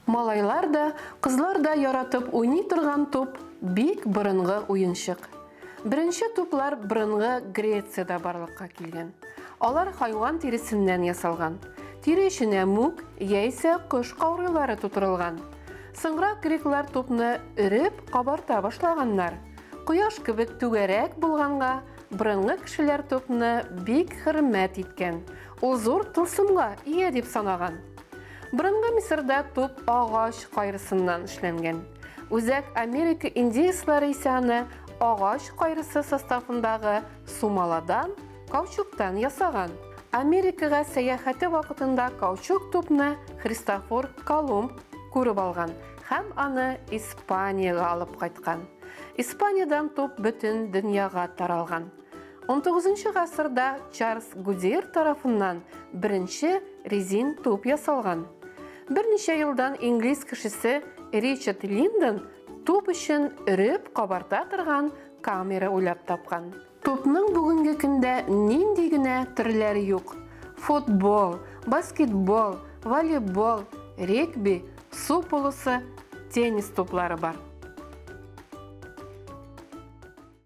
Малайлар да, кызлар да яратып уйный торган туп бик борынгы уенчык. Беренче туплар борынгы Грецияда барлыкка килгән. Алар хайван тиресеннән ясалган. Тире эченә мүк яисә кош каурыйлары тутырылган. Соңрак греклар тупны өреп, кабарта башлаганнар. Кояш кебек түгәрәк булганга, борынгы кешеләр тупны бик хөрмәт иткән. Ул зур тылсымга ия дип санаган. Борынгы Мисырда туп агач кайрысыннан эшләнгән. Үзәк Америка индеецлары исә аны агач кайрысы составындагы сумаладан Каучуктан ясаган. Америкага сәяхәте вакытында каучук тупны Христофор Колумб күреп алган һәм аны Испаниягә алып кайткан. Испаниядән туп бөтен дөньяга таралган. 19 гасырда Чарльз Гудир тарафыннан беренче резин туп ясалган. Берничә елдан инглиз кешесе Ричард Линдон туп өчен өреп кабарта торган камера уйлап тапкан. Тупның бүгенге көндә нинди генә төрләре юк. Футбол, баскетбол, волейбол, регби, су полосы, теннис туплары бар.